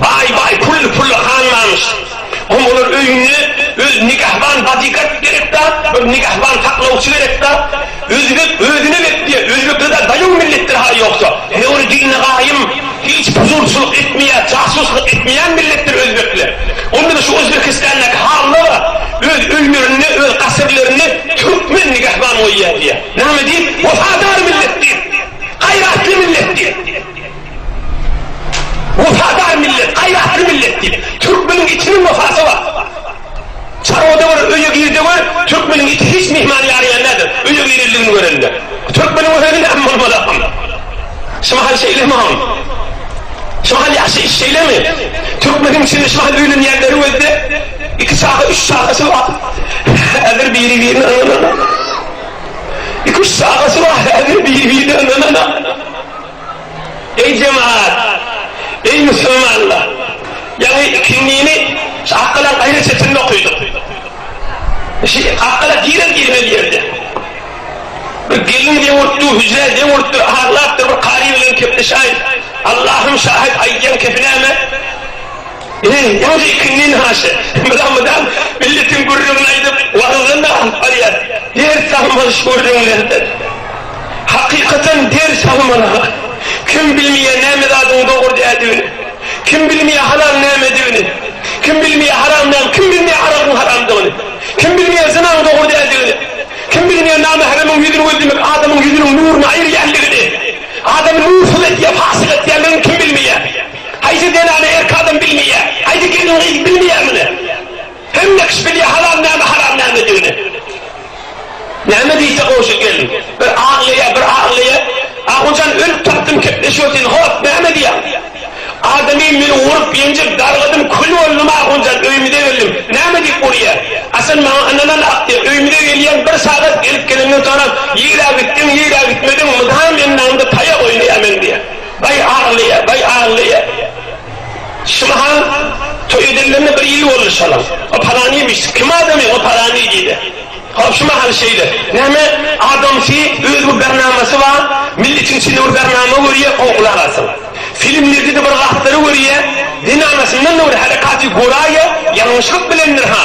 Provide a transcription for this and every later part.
Baý baý pully pully hanlarmyş. Hom olar öýünde öz nigahban bodyguard gerek da, bir nigahban saklawçy gerek da. Özbek özüne bek diýer. Özbeklerde daýaw milletdir ha ýogsa. Höwri diline gaýym, hiç puzurçylyk etmeýär, jasuslyk etmeýän milletdir özbekler. Onda-da şu Özbekistandaki halylara öz öýlerinde, öz gasyrlarynda türkmen nigahban goýýar diýer. Name diýip? Wepadar millet diýip. Gaýratly millet diýip. Wepadar millet, gaýratly millet diýip, türkmeniň itiniň wefasy bar. Çarwada bir öýe gir-de gör, türkmeniň iti hiç myhmany ýaraýandadyr, öýe girendigini görende. Türkmeniň öýüni näme bolmazakam. Şu mahal şeýlemi oň? Şu mahal ýaşaýyş şeýlemi? Türkmeniň içinde şu mahal öýlenýänleri gözle, iki çaga, üç çagasy bar. Häzir biri-birine ynanana. Iki-üç çagasy bar, häzir biri-birine ynanana. Eý jemagat! Eý musulmanlar! Ýaňy ikindini şu Akgala gaýra çetinde okydyk. Şu Akgala girer-girmez ýerde bir gelin dewürtdi, hüjrä dewürtdi, aglapdyr, bir kary bilen kepleşäýip, Allahym şahit aýdýan kepi näme? Ýöne indi ikinden haşa, mydam-mydam milletiň gürrüňini aýdyp, wagyzdan alyp barýar. Ders almaly şu gürrüňlerden. Hakykatan ders almaly-ha. Kim bilmeýär näme zadyň dogry dädigini? Kim bilmeýär halal nämedigini? Kim bilmeýär haram näme? Kim bilmeýär aragyň haramdygyny? Kim bilmeýär zynaň dogry dädigini? Kim bilmeýär namähremiň ýüzüni gözlemek adamyň ýüzüniň nuruny aýyrýandygyny? Adamy nursyz edýär, pasyk edýändigini kim bilmeýär? Haýsy zenany erk adam bilmeýär? Haýsy gelin-gyz bilmeýär muny? Hemme kişi bilýär halal näme, haram nämedigini. Näme diýse goňşy gelin. Bir aglaýar, bir aglaýar. Ahunjan ölüp tapdym kepleşýär sen hop näme diýýäň? Adamy meni urup, ýenjip, dargadym, kül boldum Ahunjan öýümize geldim. Näme diýip urýar? A sen maňa ynanan akdy. Öýümize gelýän bir sagat gelip gelenden soňam ýigrägitdiň, ýigrägitmediň, mydam ýandaňda taýak oýnaýarmen diýýär. Baý aglaýar, baý aglaýar. Şyly han toý edilenine bir ýyl boldy şalaň. O palanymy-ş, kim adamy o palany? diýdi. Hop şu mahal şeýle. Näme adamsy, öz bir bernamasy bar. Milletiň içinde bir bernama görýär, gowy gulak asyn. Filmlerde-de bir zatlary görýär. Zenanasyndan-da bir herekaty göraýýär. Ýalňyşlyk bilendir-ha.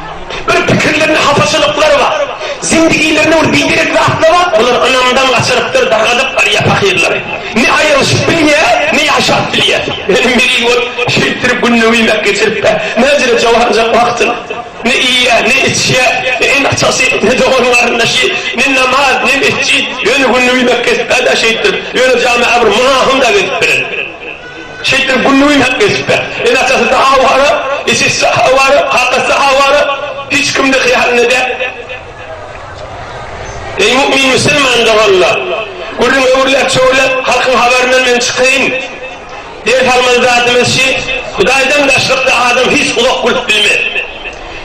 Bir pikirlerinde hapaçylyklar bar. Zindigilerinde bir biderek zatlar bar. Olar ynamdan gaçyrypdyr, dargadyp barýar pahyrlary. Ne aýrylyşyp bilýär, ne ýaşap bilýär. Meniň meniň bolup, şeýtdirip gününi öýmek geçirip-ä, mäjire joganjak wagtyny. Ne iýýär, ne içýär, ne eneatasy, ne dogan-garyndaşy, ne namaz, ne mesjit. Ýöne gününi öýmek kesip-ä-dä şeýtdirip. Ýöne jami-a bir mynahym-da gezip bilerin. Şeýtdem günligin hem kesipde. Ene-atasy Sahaw Hara, eşesi Sahaw Hara, kakasy Sahaw Hara hiç kimde hyýalynda däl. Eý mu'min musulman doganlar! Gürrüň öwürläp-çöwürläp, halkyň habaryndan men çykaýyn. Ders almaly zadymyz şi, Hudaýdan daşlykda adam hiç uzak gülüp bilmez.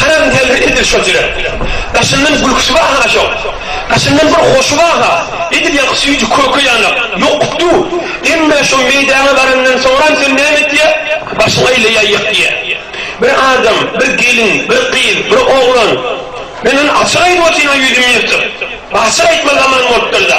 Haram däldir edil şol jürek. Daşyndan gülküsi bar-ha şoň. Daşyndan bir hoşy bar-ha. Edil ýaňky süýji köke ýanak. Ýok, du. Emmä şo meýdana barandan soňram sen näme etýä? Başyň aýlaýaýýak diýä. Bir adam, bir gelin, bir gyz, bir oglan. Men ony açyk aýdyp otyryn-ha ýüzümi ýyrtyp. Açyk aýtma zaman bolupdyr-da.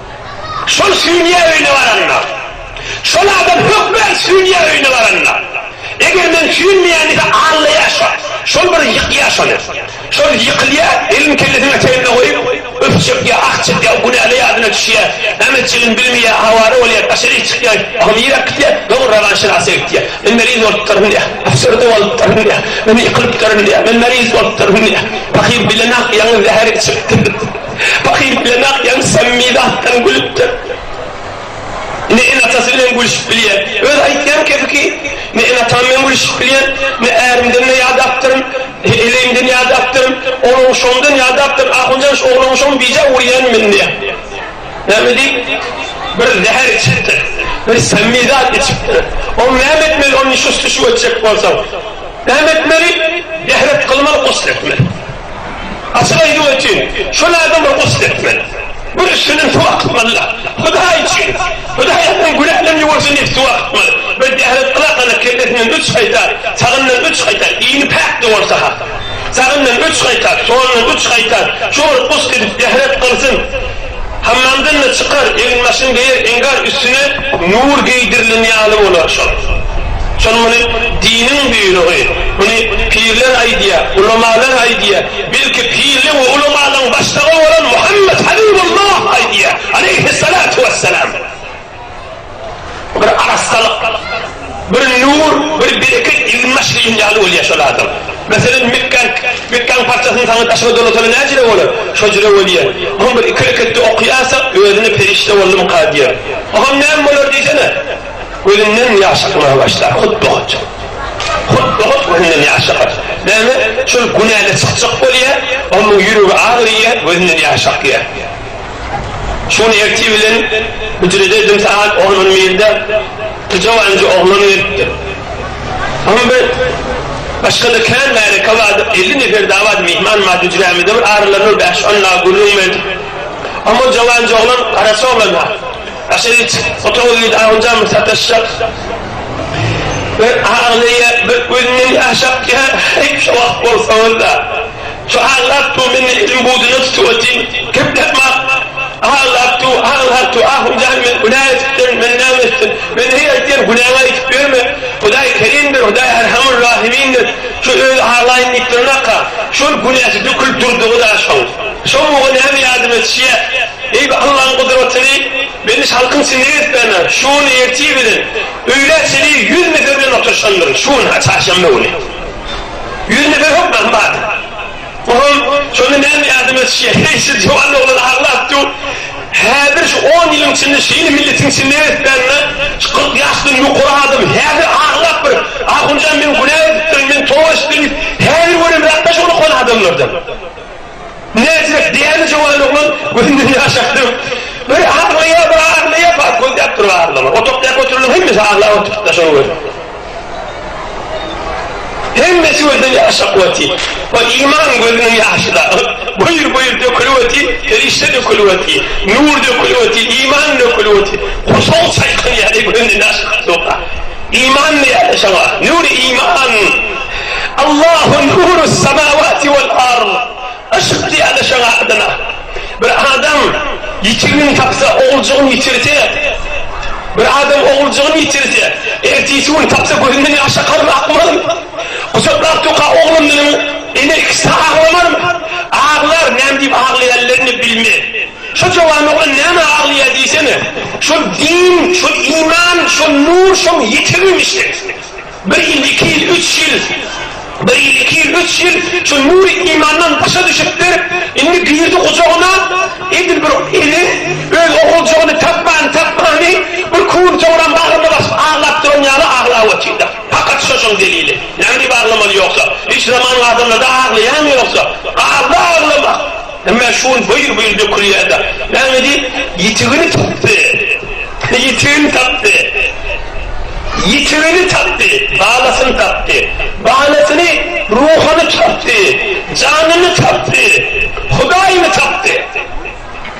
Şol sünýe öýüne baranda, şol adam hökmän sünýe öýüne baranda, eger men süýnmeýän diýse, allaýar şo, şol bir ýykýar şony. Şol ýykylýar, elini kellesiniň eteginde goýup, üf çekýär, ah çekýär, günäli ýadyna düşýär, näme etjegini bilmeýär, awara bolýar, daşaryk çykýar, ahym ýyrak gitýär, soň Rawan şinasa gitýär. Men meriz bolupdyryn diýýär, äfsürdi bolupdyryn diýýär, men ýykylypdyryn diýýär, men meriz bolupdyryn diýýär. Pahyr bilenok ýaňy zäher içipdir. Pahyr bilen Akýagyz samimi zatdan gülüpdir. Ne ene-atasy bilen gülüşip bilýär. Öz aýtýan kepiki, Ne ene-atam bilen gülüşip bilýän, ne ärimden-de ýadapdyryn, ne eleýimden ýadapdyryn. Ol ogşagymdan ýadapdyryn. Ahunjan şu oglan ogşagyny bije urýan men diýýär. Näme diýip, bir zäher içipdir. Bir samimi zat içipdir. Ol näme etmeli, ony şusty-şuw etjek bolsaň? Näme etmeli? Dehret kylmaly, gusl etmeli. Açyk aýdyp ötüň, şol adam bir gusl etmeli. Bir üstünden suw akytmaly-la. Hudaý üçin! Hudaý adam günäden ýuwunsyn diýip suw akytmaly. Bir däret gylaklana kellesinden üç gaýta, sagyndan üç gaýta, iýni päk-de bolsa-ha. Sagyndan üç gaýta, solundan üç gaýta, şo bir gusl edip däret gylsyn. Hammamdan-da çykar, egin-başyňy geýer, eňgar üstüne nur geýdirilen ýaly bolar şol. Şol muny diniň buýrugy, muny pirler aýdýar, ulamalar aýdýar, belki pirleň we ulamalaryň başlygy bolan Muhammet Habibullah aýdýar, aleýhissalatu wesselam. Bir arassalyk, bir nur, bir bereket ýüzüni açylýan ýaly bolýar şol adam. Meselem, mekgäň, mekgäň parçasyny saňa daşyna dolasana näjüre bolar? Şojüre bolýar. Oňa bir iki reketde okaýansoň, özüne perişde boldumyka diýer. Oňam näme bolar diýsene? Gözünden ýaş akmaga başlar, hut buhut. Hut buhut gözünden ýaş akar. Näme, şol günäli çykjak bolýar, onuň ýüregi agyrýar, gözünden ýaş akýar. Şol ertir bilen hüjrede edil sagat on on birde pyjawanjy oglan gelipdir. Oňa bir başga-da kän märeke bardyr, elli nefer dagy bardy, myhman bardy hüjrämizde, bir aralarynda bir bäş-on dagy gürrüň berdik. Oňa ol jawanjy oglan, garaşy oglan-a, Aşa git, otaga gir, ahunjan bir sataşjak. Bir aglaýar, bir gözünden ýaş akýar, Heý, şo wagt bolsaňyz-a! Çuhal Artu meni ilim buduna tutup otyn, kep tapmak, Ahal Artu, Ahal Artu, Ahun jan men günä etip sen, men näme etdim, men heý aýtýan günäňi aýdyp ýörme, Hudaý Kerimdir, Hudaý Erhamul Rahimindir, şu özi halaýyn diýip duranaka, şol günäsi dökülip durdugyda şoň, şoň muňa näme ýadym etişýä, eý bu Allaň gudratyny, meni şalkym siňek edip bärme, şu gün ertir bilen öýlä çenli ýüz metre bilen oturyşandyryn, şu gün-ha çarşenbe güni. Ýüzünde bir hok nahy bardy. Oglan şonda näme ýardam etişýä? Heý, siz ýuwan oglan aglap dur. Häzir şu on ýylyň içinde şeýle milletiň içinde ösdänine şu kyrk ýaşdan ýokary adam häzir aglap bir Ahunjan men günä edipdirin, men toba etdirin diýip häzir göremzok-da şol ýuwan adamlardan. Näzirek, däli jöwan oglan gözünden ýaş akdyryp, bir aglaýar, bir aglaýar, bar, gözläp dur, aglama. Otagdaky oturanlaryň hemmesi aglap oturypdyr, şony gör. Hemmesi gözden ýaş akyp otyr. Ol Iman gözüniň ýaşy dagy buýr-buýr dökülip otyr, perişde dökülip otyr, Nur dökülip otyr, Iman dökülip otyr. Gursagy çaýkanýardy, gözünden ýaş akypdyr oka. Iman diýýärdi şoňa, Nur-i Iman! Allahu nurus samawati wal ard, Yşk diýýärler şoň adyna. Bir adam ýitigini tapsa, oguljygyny ýitirse, bir adam oguljygyny ýitirse, ertesi gün tapsa gözünden ýaş akarmy, akmazmy? Gujaklap durka oglunyň ene ikisi aglamarmy? Aglar, näme diýip aglaýanlaryny bilmez. Şo jowan oglan nämä aglaýar diýsene? Şol din, şol iman, şol nur şoň ýitigim işte. Bir ýyl, iki ýyl, üç ýyl, Bir ýyl, iki ýyl, üç ýyl şu Nury imandan daşa düşüpdir, indi girdi gujagyna, edil bir ene öz oguljagyny tapman, tapmany bir küýüp soňram bagryna basyp aglap duran ýaly aglap otyrda. Pakat şoşuň delili. Näme diýip aglamaly ýogsa? Hiç zamanyň adamlarda aglaýamy ýogsa? Galdy aglamak. Emma şu gün byr-byr dökülýär-de, näme diýip, ýitigini tapdy, ýitigini tapdy, ýitigini tapdy, balasyny tapdy, balasyny, ruhuny tapdy, janyny tapdy, Hudaýyny tapdy.